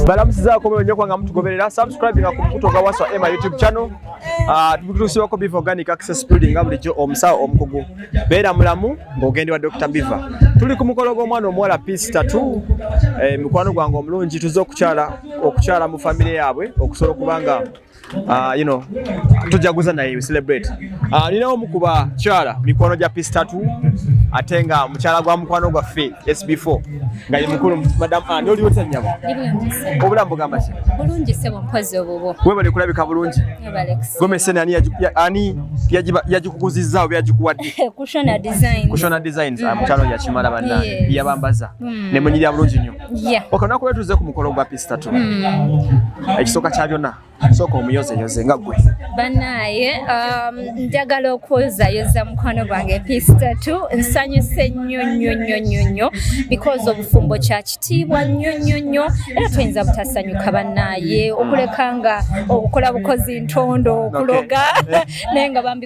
balamusizaako mweyo nyo kwanga mutugoberera subscribe nga ku mukuto gwa waswa ema youtube channel ah, tukutuusibwako beef organic access building nga bulijjo omusawo omukugu beera mulamu ng'ogende wa dr biva tuli ku mukolo gw'omwana omuwala peace tatu eh, mikwano gwange omulungi tuze okukyala okukyala mu famire yaabwe okusobola okubanga Uh, you know, tujaguza naye celebrate uh, nina omu ku bakyala mikwano gya pistatu ate nga mukyala gwa mukwano gwaffe sb4 nga ye mukulu madam ani ah, oliwo tanyabo obulamu bugamba ki bulungi sebo mpozi obubo webale kulabika bulungi gomesene ani ani yagikukuzizza oba yagikuwadde kushona designs kushona designs ah, mm. mukyalo yakimala banna yabambaza mm. nemunyirya bulungi nnyo Yeah. Okay, olunaku lwe tuze ku mukolo gwa pisi tatu mm. ekisooka kya byonna sooka omuyozeyoze nga gwe banaye um, njagala okwozayoza mukwano gwange pisi tatu nsanyuse nnyo nnyo nnyo nnyo nnyo because obufumbo kya kitiibwa nnyo nnyo nnyo era tuyinza butasanyuka banaye okuleka nga okukola bukozi ntondo okuloga naye nga bambi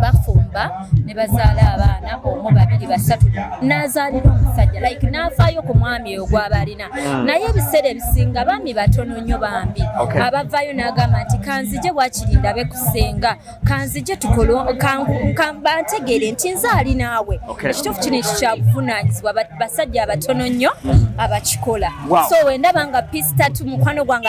bafumba ne bazaala abaana omu babiri basatu n'azaalira omusajja like n'afaayo ku mwami oyo gwaba alina hmm. naye ebiseera ebisinga baami batono nnyo bambi abavaayo n'agamba nti kanzije wakiri ndabe kusenga kanzije tukolo bantegeere nti nze ali naawe ekituufu kino ekyo kyabuvunaanyizibwa basajja abatono nnyo hmm. abakikola so wendaba nga pisitatu mukwano gwange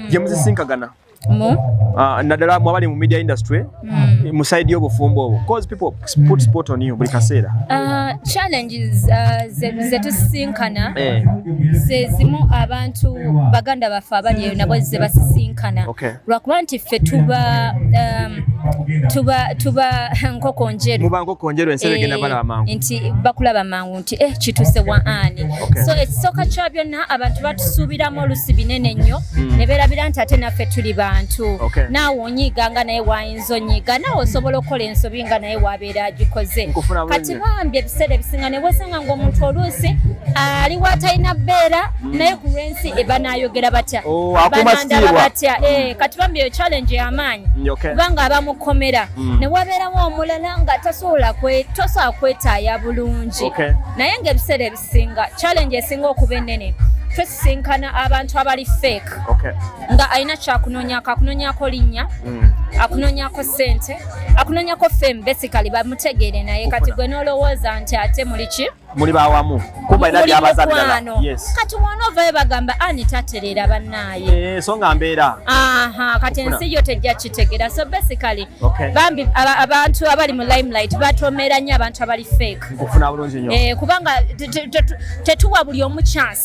gye muzisinkagana mu ah, naddala mwabali mu media industry hmm. mu side y'obufumbo obwo cause people put sport on you buli kaseera ah, challenges ah, zetusinkana eh. zezimu abantu baganda baffe abali eyo nabo zebasisinkana lwakuba nti ffe tuba um, tuba tuba nkoko njeru muba nkoko njeru ensi egenda eh, balaba mangu nti bakulaba mangu nti eh kituse wa ani okay. so ekisooka kya byonna abantu batusuubiramu olusi binene nnyo mm. ne beerabira nti ate naffe tuli bantu okay. naawe onyiiga nga naye waayinza onyiiga naawe osobola okukola ensobi nga naye waabeera agikoze kati bambi ebiseera ebisinga ne bwesanga ngaomuntu oluusi ali watalina beera mm. naye ku lwensi eba naayogera batya oh, banandaba batya mm. eh, kati bambi eyo challenge yamaanyi kubanga abamukomera mm. ne wabeerawo omulala nga tasobola tosobola kwetaaya bulungi naye ng'ebiseera ebisinga challenge esinga okuba ennene twesisinkana abantu abali fake nga alina kyakunonyako akunonyako linnya mm. akunonyako sente akunonyako fame basically bamutegeere naye kati gwe nolowooza nti ate muliki muli bawamu kumba ina byabaza bilala yes kati wano vaye bagamba ani taterera banaye eh so nga mbera aha kati ensi yo tejja kitegera so basically okay. bambi abantu abali mu limelight batomera nya abantu abali fake kufuna bulungi nyo eh kubanga tetuwa buli omu chance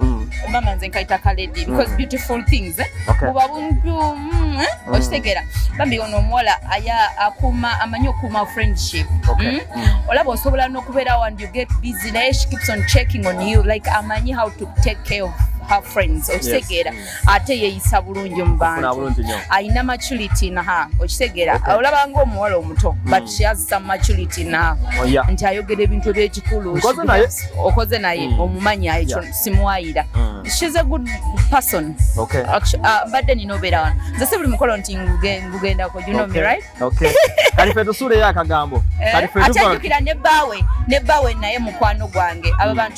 mm. omama nze nkaita kaledi because mm. beautiful things eh? okay. buba bumpu mm, eh? mm. okitegeera bambi ono omuwala aya akuma amanyi okuuma friendship okay. mm? mm. olaba osobola nokubeerawo and you get busy naye she keeps on checking on you like amanyi how to take care of her friends okitegeera yes. mm. ate yeeyisa bulungi mu bantu alina maturity naha okitegeera olaba ngaomuwala omuto hmm. but she has some maturity naha oh, nti ayogera ebintu ebyekikulu okoze naye hmm. omumanyi ekyo simuwayira hmm. shes a good person uh, mbadde nina obeera wano nze si buli mukolo nti ngugendako you know me right kalife tusuuleyo akagambo eh, ate ajukira ne baawe ne baawe naye mukwano gwange aba bantu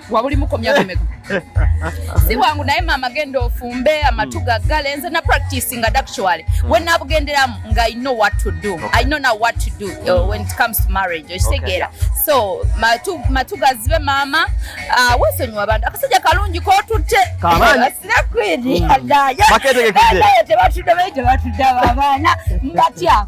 wabulimuko myaka emeka si bwangu naye maama genda ofumbe amatu hmm. gaggale nze na practice nga actually hmm. when nabugenderamu nga i know what to do i know now what to do uh, when it comes to marriage okitegeera so matu gazibe maama uh, wesonyiwa abantu akasajja kalungi kotutte sinakwiri hmm. agayaye tebatudde bayi tebatudde abaana mbatya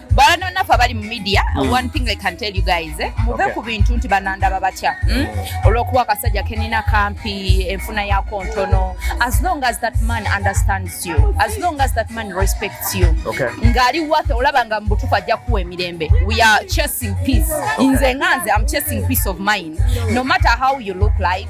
banonaffe abali mu media mm. one thing i can tell you guys eh? muve okay. ku bintu nti banandaba batya hmm? mm? olwokuba akasajja kenina kampi enfuna yako ntono as long as that man understands you as long as that man respects you okay. ngaali wathe olaba nga mubutufu ajja kuwa emirembe we are chasing peace okay. nze nga nze am chasing peace of mind no matter how you look like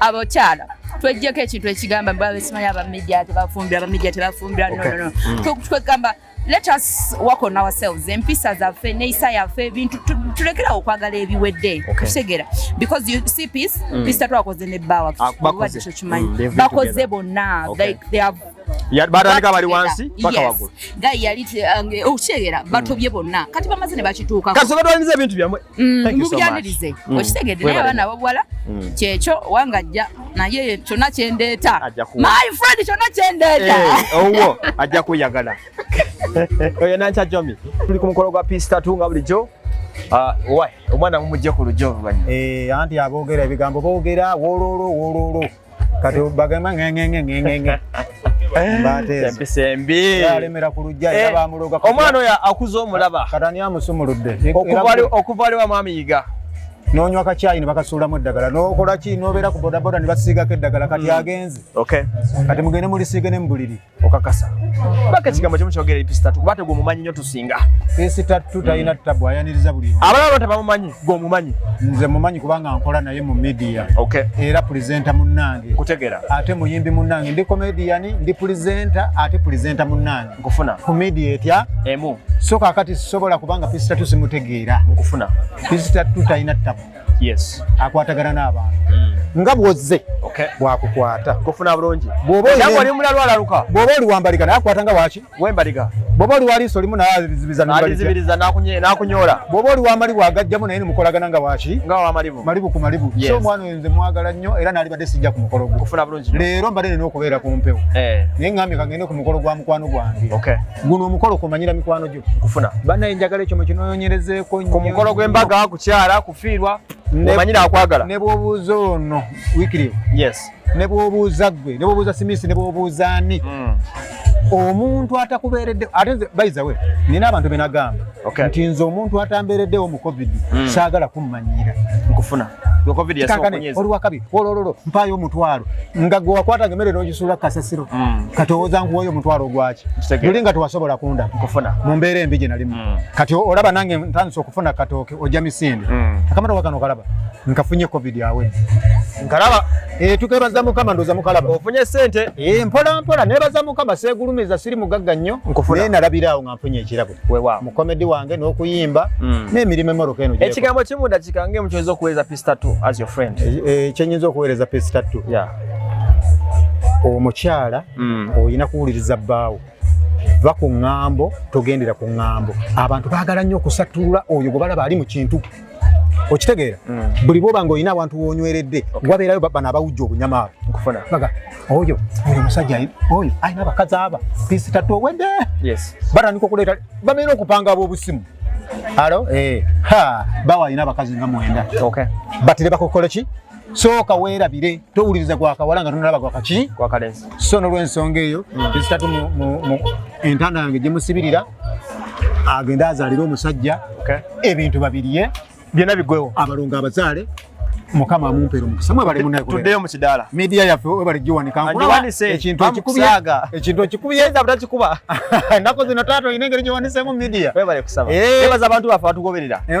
abakyala twejjeko ekintu ekigamba bwabesimanyi abamidia tebafumbira abamidia tebafumbira nonono mm. twegamba let us work on ourselves empisa zaffe neisa yaffe bintu tulekerawo okwagala ebiwedde kutegera because you see peace mm. peace tatwakoze ne bawa ah, bakoze mm, bonna like they have batandika bali wansi paka wagulu gayi yali uh, okukyegera oh, batobye bonna kati bamaze ne bakituukako kati batwaliriza ebintu byamwe mm, mubyanirize mm. okitegedde naye abaana abawala mm. kyekyo wangajja naye kyonna kyendeeta my friend kyonna kyendeeta eh, owo ajja kweyagala oyo nankya jomi tuli ku mukolo gwa peace tatu nga bulijjo Ah, omwana mumujje ku lujja oluvannyuma eh, anti aboogera ebigambo boogera wololo wololo kati bagamba ngengengengenge alemera ku lujja era eh, bamuloga omwana oyo akuza omulaba katani amusumuludde okuva aliwa mwami yiga nonywa kakyayi nebakasuulamu eddagala nokolaki nobeera ku bodaboda nebasiigako eddagala kati hmm. agenze kati mugende mulisiige ne mubuliri okakasa baka ekigambo kimu kyogera episita tukuba te gwomumanyi nyo tusinga pisita tu talina tabu ayaniriza buli abalala bata bamumanyi gwomumanyi nze mumanyi kubanga nkola naye mu media okay. era pulizenta munnange kutegera ate muyimbi munnange ndi komediyani ndi pulizenta ate pulizenta munnange nkufuna ku media etya emu so kakati sisobola kubanga pisita tu simutegeera nkufuna pisita tu talina tabu yes akwatagana n'abantu mm. nga bwozze okay. bwakukwata kufuna bulungi bwoba oli mulalwa alaluka bwoba oli wambaliga naye akwata nga waki wembaliga bwoba oli waliiso olimu nayazibizanalizibiriza nakunyola bwoba oli wamalibu agajjamu naye nimukolagana nga waki nga wamalibu malibu ku malibu yes. so omwana oyo nze mwagala nnyo era nalibadde sijja ku mukolo gwe kufuna bulungi leero mbadde nina okubeera ku mpewo eh. naye ngambye kangende ku mukolo gwa mukwano gwange okay. guno omukolo kumanyira mikwano kufuna banaye njagala ekyo mukinonyerezeko ku mukolo gw'embaga kukyala kufiirwa omanyira akwagala ne bwobuuza ono wikiriyo yes ne bwobuuza gwe ne bwobuuza simisi ne bwobuuza ani mm. omuntu atakubeeredde ate nze baizawe nina abantu benagamba nti nze omuntu atambeereddewo mu covid mm. saagala kummanyira nkufuna kankane olwakabi olololo mpaayo omutwalo nga gwe wakwatanga emmere n'ogisuula kasasiro mm. kati owooza nkuwayo omutwalo ogwaki luli nga tewasobola kunda mu mbeera embi gye nalimu mm. kati olaba nange ntandise okufuna katooke ojja misinde mm. akamata wakano kalaba nkafunye covid awe nkalaba eh, tukebaza mukama ndoza mukalaba ofunye sente eh, mpola mpola nebaza mukama segulumiza siri mugagga nnyo naye nalabiraawo mpunye ekirabo wewa mu comedy wange n'okuyimba mm. n'emirimu emoroka eno ekigambo kimu dakika ngemu kyoyinza okuweereza pisi tatu as your friend e, e, kyenyinza okuweereza pisi tatu yeah. omukyala mm. olina kuwuliriza bbaawo va ku ŋŋambo togendera ku ŋŋambo abantu baagala nnyo okusattulula oyo gwe balaba ali mu kintu okitegeera mm. buli bwoba nga olina abantu wonyweredde wabeerayo bano abawujja obunyama abo nkufuna baga oyo oyo musajja oyo alina abakazi aba pisita towedde batandika okuleeta bamera okupanga ab'obusimu alo eh. bawa alina abakazi nga mwenda batire bakokola ki sooka weerabire towuliriza gwakawala nga tonalaba gwakaki so nolwensonga eyo mm. ezitatu entanda yange gyemusibirira agende azalire omusajja ebintu babiriye byona bigwewo abalongo abazaale mukama amumpere omukisa mwebale munatuddeyo mukidaala midiya yaffe webale giwanikaekintu okikubyekikubyekikuba ennaku zino taata olina engeri giwanisemu midiya webaza abantu baffe batugoberera eh,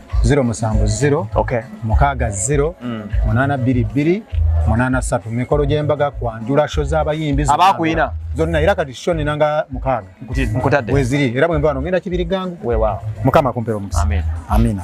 zero musanvu zero okay. mukaaga zero mm. munaana bbiri bbiri munaana satu mikolo gy'embaga kwanjula sho z'abayimbi abakuyina zonna era kati sho nina nga mukaaga nkutadde weziri era bwemba wano ngenda kibiri gangu mukama kumpera omukisa amina